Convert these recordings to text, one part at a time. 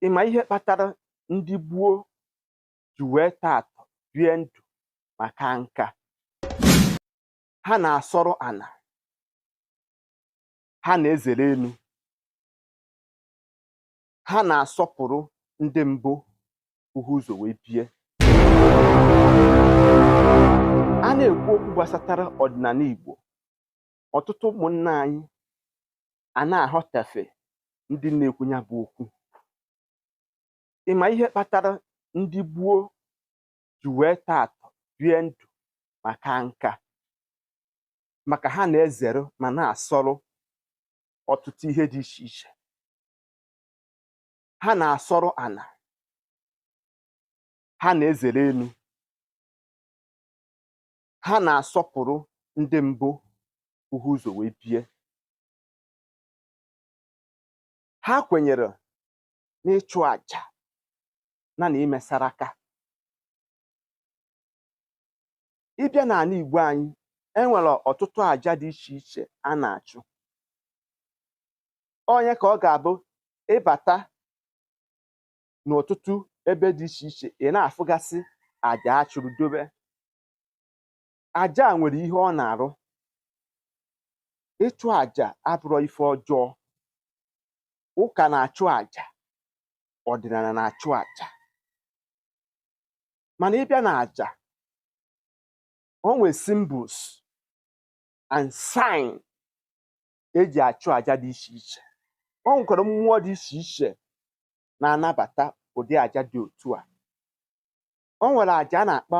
ị ma ihe kpatara ndị gboo ji wee tọọ atọ bie ndụ ma kaa nka ha na-asọrụ ana ha na-ezere enu ha na-asọpụrụ ndị bu ha ụzọ wee bie a na-ekwu okwu gbasatara ọdịnana Igbo ọtụtụ ụmụnna anyị a na-aghọtafie ndị na-ekwu nya bụ okwu ị ma ihe kpatara ndị gboo ji wee tọọ atọ bie ndụ ma kaa nka maka ha na-ezere ma na-asọrụ ọtụtụ ihe dị iche iche ha na-asọrụ ana ha na-ezere enu ha na-asọpụrụ ndị bu ha ụzọ wee bie ha kwenyere n'ịchụ àjà na na ime saraka ị bịa n'ana Igbo anyị e nwere ọtụtụ àjà dị iche iche a na-achụ ọ nya ka ọ ga-abụ ị bata n'ọtụtụ ebe dị iche iche ị na-afụgasị àjà a chụrụ dobe aja a nwere ihe ọ na-arụ ịchụ aja abụrọ ife ọjọọ ụka na-achụ aja ọdịnana na-achụ aja mana ị bịa na aja o nwere symbols and sign eji achụ aja dị iche iche o nwekwara mmụọ dị iche iche na-anabata ụdị aja dị otu a o nwere aja a na-akpọ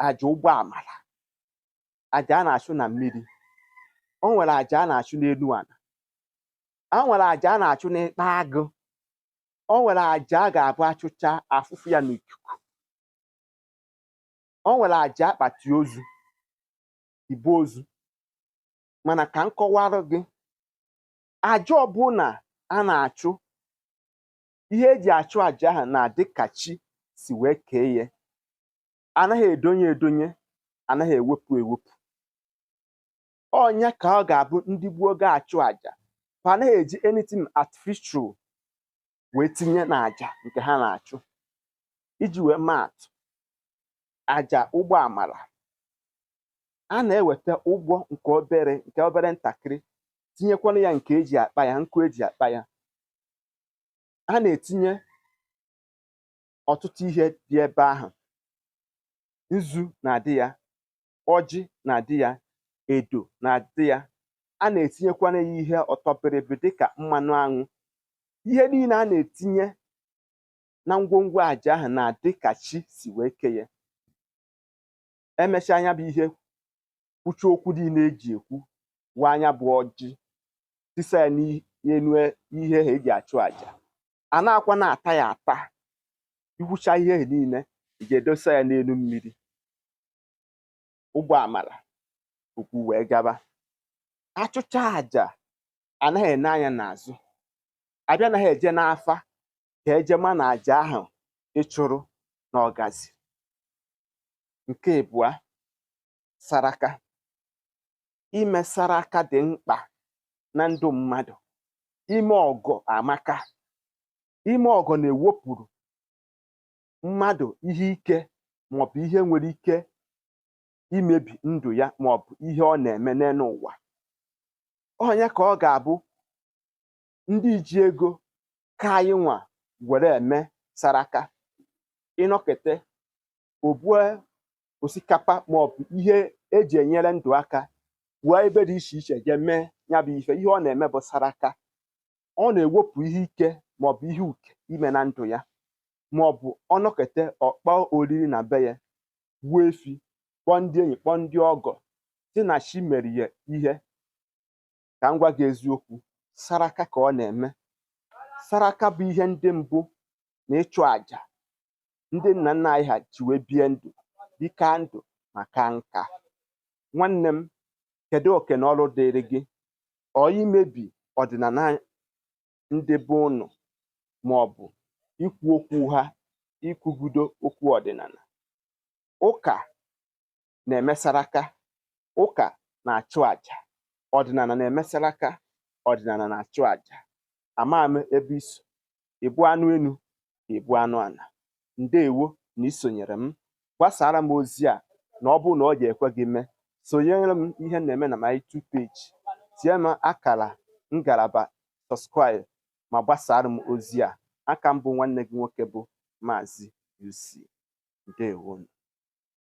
aja ụgbọ amara aja a na-achụ na mmiri o nwere aja a na-achụ n'elu ana o nwere aja a na-achụ n'ikpa agụ o nwere aja a ga-abụ a chụchaa a fụfuo ya n'ikuku o nwere aja akpati ozu ibu ozu mana ka m kọwarụ gị aja ọbụla a na-achụ ihe eji achụ aja ahụ na-adị ka chi si wee kee ya anaghị edonye edonye anaghị ewepụ ewepụ ọ nya ka ọ ga-abụ ndị gboo ga-achụ aja fa anaghị eji anything artificial wee tinye na aja nke ha na-achụ iji wee maatụ aja ụgbọ amara a na-eweta ụgbọ nke obere nke obere ntakịrị tinyekwara ya nke eji akpa ya nkụ eji akpa ya a na-etinye ọtụtụ ihe dị ebe ahụ nzu na-adị ya ọjị na-adị ya edo na-adị ya a na-etinyekwana ya ihe ọtọ bịrịbịrị dịka mmanụ aṅụ ihe niile a na-etinye na ngwongwo aja ahụ na-adị ka chi si wee kee ya emesịa nya bụ ihe kwucha okwu niile eji ekwu waa nya bụ ọjị tisa ya n'elu ihe ha eji achụ aja a na-akwa na-ata ya ata i kwucha ihe ha niile ị ga-edosa ya n'elu mmiri ụgbọ amala okwu wee gaba achụcha aja anaghị ene anya n'azụ abịa anaghị eje n'afa ka eje ma na aja ahụ ị chụrụ na ọ gazi nke abụọ saraka ime saraka dị mkpa na ndụ mmadụ ime ọgọ amaka ime ọgọ na-ewepụrụ mmadụ ihe ike maọbụ ihe nwere ike imebi ndụ ya maọbụ ihe ọ na-eme n'elu ụwa onye ka ọ ga-abụ ndị ji ego ka anyị nwa were eme saraka ị nọkete o bue osikapa maọbụ ihe eji enyere ndụ aka wee ebe dị iche iche jee mee ya bụ ife ihe ọ na-eme bụ saraka ọ na-ewepụ ihe ike maọbụ ihe uke ime na ndụ ya maọbụ ọ nọkete ọ kpọọ oriri na be ya gbuo efi kpọọ ndị enyi kpọọ ndị ọgọ sị na chi mere ya ihe ka m gwa gị eziokwu saraka ka ọ na-eme saraka bụ ihe ndị mbụ na ịchụ àjà ndị nna nna anyị ha ji wee bie ndụ dịka ndụ ma kaa nka nwanne m kedu oke na ọrụ dịrị gị ọ imebi ọdịnala ndị be ụnụ ma ọ bụ ikwu okwu ha ikwugudo okwu ọdịnala ụka na-eme saraka ụka na-achụ aja ọdịnala na-eme saraka ọdịnala na-achụ aja ama m ebe i so ị bụ anụ enu ị bụ anụ ala ndewo na isonyere m gbasara m ozi a na ọ bụrụ na ọ ga-ekwe gị mee sonyere m ihe na-eme na my two page tie m akara ngalaba subscribe ma gbasara m ozi a a ka m bụ nwanne gị nwoke bụ maazị UC ndewonu